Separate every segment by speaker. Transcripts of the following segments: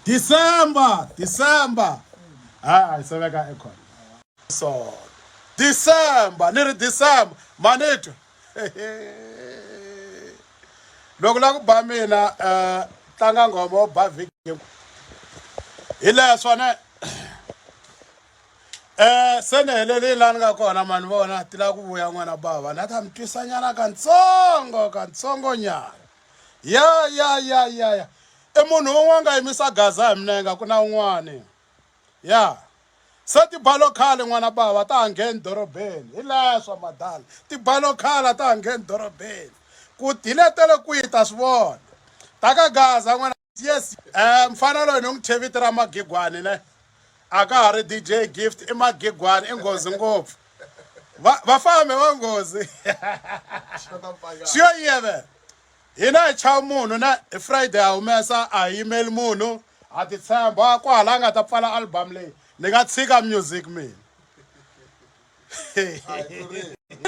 Speaker 1: December, December. Ah, it's like an echo. So, December, near December, manito. Loko la ku ba mina eh tlanga ngoma ba vhiki hi laha swona eh se ni helelile laha ni nga kona mani vona ti lava ku vuya n'wana bava na ta mi twisanyana kantsongo kantsongonyana ya ya ya ya ya i munhu un'we a nga yimisa gaza hi minenge ku na un'wani ya se tibalo khale n'wana bava ta ha ngheni dorobeni hi leswa madala tibalo khale a ta ha ngheni dorobeni ku diletele kwihi ta swi vona ta ka gaza n'wana yes um mfana loyi ni n'wi thye vito ra magigwani ne a ka ha ri dj gift i magigwani i nghozi ngopfu va fambe va nghozi swi yo yeve hina hi chava munhu na hi friday ha humesa a hi yimeli munhu ha titshemba kwahala a nga ta pfala album leyi ni nga tshika music mina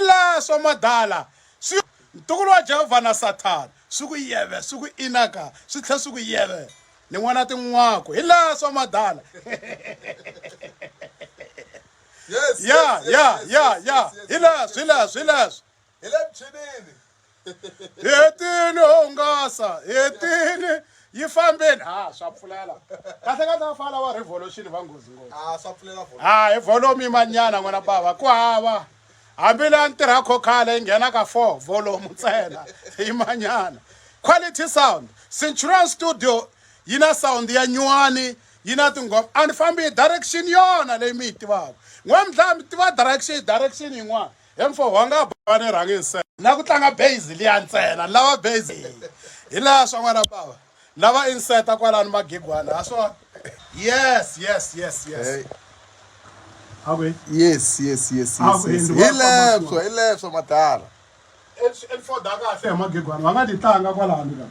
Speaker 1: la swa madala swi ntukulu wa jehovha na sathana swi ku yeve swi ku inaka swi tlhela swi ku yeve ni n'wana tin'wako hi la swa madala ya ya ya ya hi leswi hi leswi hi leswi hi le michinini hetini hungasa hetini yi fambeni ha swa pfulela kahle kahle va fana wa revolution va nghozi ngopfu ha swa pfulela vona ha hi volume manyana n'wana bava ku hava hambi leya ni tirha khokhale yi nghena ka four volume ntsena yi manyana quality sound centurion studio yi na sound ya nyuwani yi na tinghoma a ni fambi hi direction yona leyi mi yi tivaka n'wamdlaya mi tiva direction direction yin'wana He mfoho wa nga ba ni rhangi nse. Na ku tlanga base liya ntsena ni lava base. Hi laha swa n'wana bava. Ni lava inseta kwalano magigwana ha swona. Yes yes yes yes. Hey. Yes yes yes yes yes. Hi leswo hi leswo madala. Info da kahle hi magigwana va nga ni tlanga kwalano.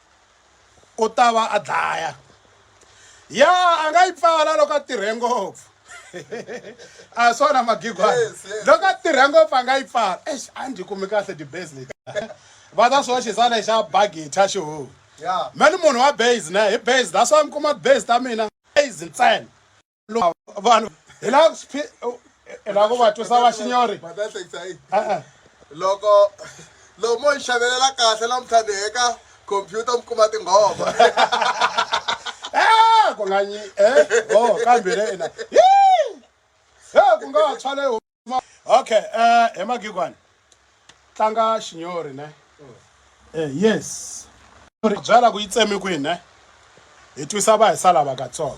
Speaker 1: u ta va a dlaya ya a nga yi pfala loko a tirhe ngopfu a swona magigwana loko a tirhe ngopfu a nga yi pfala ex a ndzi kumi kahle dibase leti va ta swo xisa lexa bagitha xihomu me ni munhu wa base ne hi base that's why mi kuma base ta mina base ntsena vanhu hi la hi la ku va twisa va xinyori e-e. loko loko mo hi xavelela kahle namuntlha ni heka khompyuta mi kuma tinghoma Eh, ku nga nyi eh, oh kambe le ina Yee! Eh, ku nga tshwa le okay uh, he magigwani tlanga xinyori ne uh, yes byala ku yi tsemi kwihi ne hi twisa va hi sala vakatsongo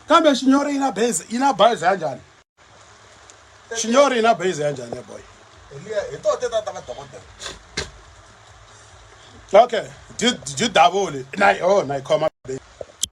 Speaker 1: kambe xinyori yi na base yi na base ya njhani xinyori yi na base ya njhani boy hi to te tata va dokodela okay didavuli na yo na yi khoma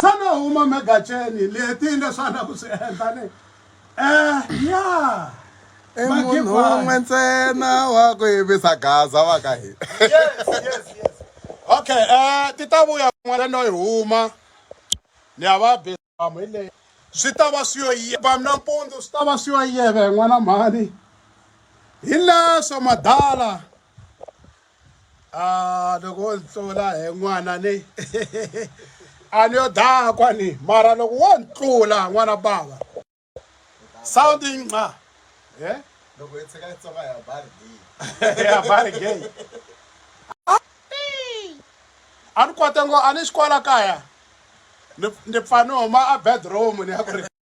Speaker 1: Xana u huma megaceni leti leswana ku swi endla ni eh ya i munhu un'we ntsena wa ku yimisa gaza wa ka hina yes yes yes okay eh ti ta vuya kun'wana no yi huma ni ya va bizamu hi leyi swi ta va swi yo yeva mina mpundzu swi ta va swi yo yeve n'wana mhani hi leswo madala a loko wo ndzi tlula he n'wana ni a ni yo dakwa ni mara loko wo ni tlula n'wana bava sound yi nqa e loko yi tshika yi tsonga ya bari gay ya bari gay a ni kote ngo a ni xikwala kaya ni pfa ni huma a bedroom ni ya ku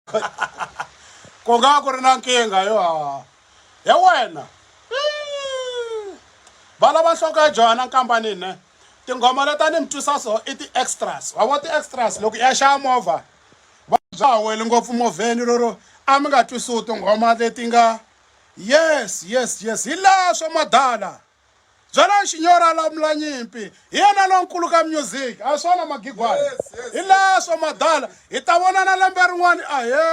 Speaker 1: ku nga ku ri na nkingha yo ya wena va lava nhloko ya johana nkambani ne tinghoma leti a ni mi twisa so i ti-extras wa vo ti-extras loko ya xava movha va bya wele ngopfu movheni lero a mi nga twisiwi tinghoma leti nga yes yes yes hi laha swa madala Byela Nxinyora Lamulanyimpi, hi yena lonkulu ka music, a hi swona Magigwana? Hi leswo Madala, hi ta vonana lembe rin'wana, ahee!